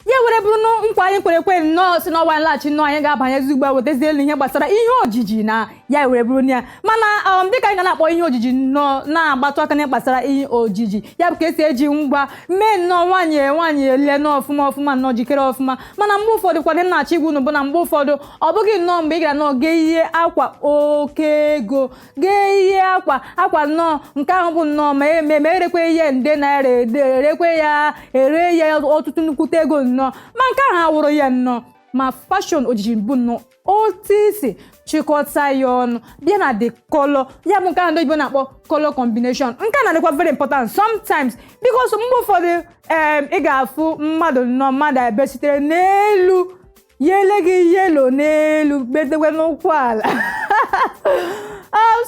ya were bụrụ na nkwa anyị kwere ekwe nnọọ si n'ọwa nlaghachi nnọọ anyị ga-abanyezi ugbu a wetazie elu ihe gbasara ihe ojiji na ya were bụrụ na ya mana um, dịka anyị ga na-akpọ ihe ojiji nnọọ na-agbatụ aka na gbasara ihe ojiji ya bụ ka esi eji ngwa mee nnọọ nwaanyị nwaanyị elie nnọọ ọfụma ọfụma nnọọ jikere ọfụma mana mgbe ụfọdụ kwadị m na-achọ ịgwa unu bụ na mgbe ụfọdụ ọ bụghị nnọọ mgbe ị gara nnọọ gaa yie akwa oke ego gaa yie akwa akwa nnọọ nke ahụ bụ nnọọ ma eme ma erekwe ya nde naira ede erekwe ya ere ya ọtụtụ nnukwute ego nnọọ ma nke ahụ awụrụ ya nnọọ ma fashion ojiji bụ nnọọ otu i si chịkọta ya ọnụ bịa na the color ya bụ nke ahụ ndị oyibo na-akpọ color combination nke a na-adịkwa very important sometimes because mgbe ụfọdụ em, ị ga-afụ mmadụ nnọọ mmadụ ebe sitere n'elu ya ele gị yellow n'elu bedekwe n'ụkwụ ala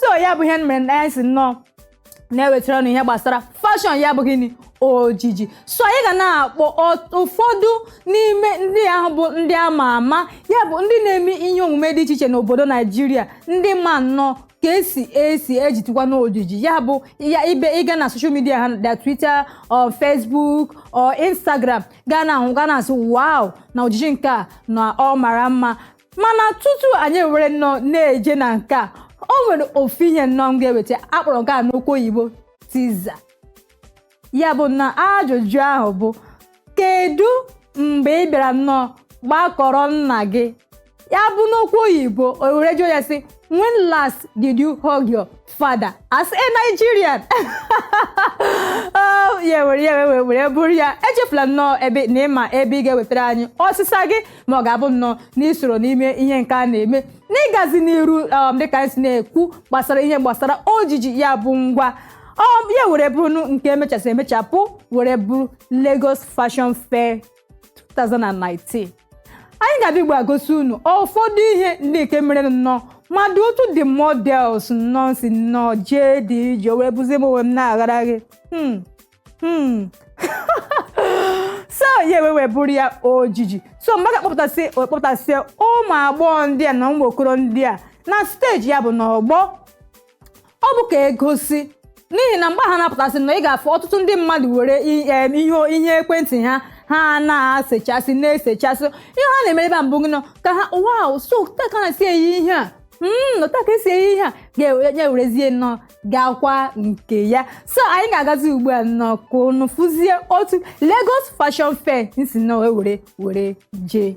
so ya bụ ihe mere na anyị si nnọọ na-ewetara unu ihe gbasara fashion ya bụ gịnị ojiji so anyị ga na-akpọ ọt- ụfọdụ n'ime ndị ahụ bụ ndị a ma ama ya bụ ndị na-eme ihe omume dị iche iche n'obodo Naijiria ndị ma nnọọ ka esi esi ejitikwa n'ojiji ya bụ ya ibe ị gaa na social media ha either twitter or facebook or instagram ga na-ahụ ga na-asị wow na ojiji nke a na ọ mara mma mana tutu anyị were nnọọ na-eje na nke a o nwere ofu ihe nnọọ m ga-eweta akpọrọ nke a n'okwu oyibo teaser ya bụ na ajụjụ ahụ bụ kedu mgbe ị bịara nnọọ gbakụrụ nna gị ya bụ n'okwu oyibo o were jụọ ya sị when last did you hug your father as a Nigerian Oh, ya were ya were were bụrụ ya echefula nnọọ ebe na ị ma ebe ị ga-ewetara anyị ọsịsa gị ma ọ ga-abụ nnọọ na i soro n'ime ihe nke a na-eme n'ịgazi n'iru um, dịka anyị si na-ekwu gbasara ihe gbasara ojiji ya bụ ngwa um, ya were bụrụ nke emechasị emechapụ were bụrụ Lagos Fashion Fair 2019 anyị ga-abịa ugbu a gosi unu ụfọdụ ihe ndị nke mere nnọọ mmadụ otu the models nnọọ si nnọọ jee dị ije wee bụzie m onwe m na-aghara gị Hmm. Hmm. so ya ewe wee bụrụ ya ojiji so mgbe a ga-akpọpụtasị akpọpụtasị ụmụ agbọghọ ndị a na ụmụ okoro ndị a na stage ya bụ n'ọgbọ ọ bụ ka e gosi n'ihi na mgbe ha na-apụtasị na ị ga-afụ ọtụtụ ndị mmadụ were i- em, ihe ihe ekwentị ha ha na-esechasị na-esechasị ihe ha na-eme ebe a mbụ gị nọ ka ha wow so otu a ka a na-esi eyi ihe a Mm, otu a ka esi eyi ihe a ga-enye werezie nnọọ gakwa nke ya so anyị ga-agazi ugbu a nnọọ ka unu fụzie otu Lagos Fashion Fair si nnọọ wee were were jee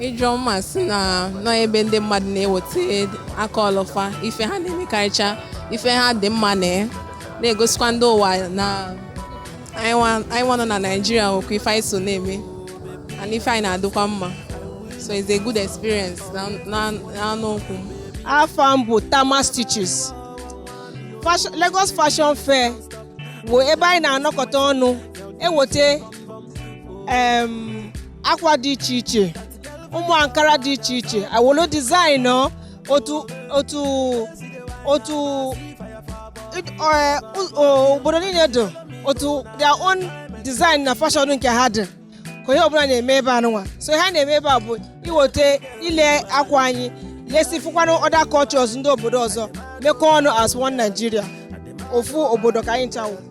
Ijeọma si na nọ ebe ndị mmadụ na-eweta aka ọlụ fa ife ha na-emekarịcha ife ha dị mma na ya na-egosikwa ndị ụwa na anyị nwa nọ na Naịjirịa nwekwa ife anyị so na-eme and ife anyị na-adịkwa mma so it's a good experience na-anụ okwu m afa m bụ Tama Stitches Lagos Fashion Fair bụ ebe anyị na-anọkọta ọnụ eweta akwa dị iche iche ụmụ ankara dị iche iche awolo design otu otu otu e, obodo niile dị otu their own design na fashion nke ha dị ka onye ọbụla na-eme ebe anụnwa so ihe a na-eme ebe a bụ iweta ile akwa anyị lesi fụkwanụ other cultures ndị obodo ọzọ mekọọ ọnụ as one Nigeria ofu obodo ka anyị ncha wụ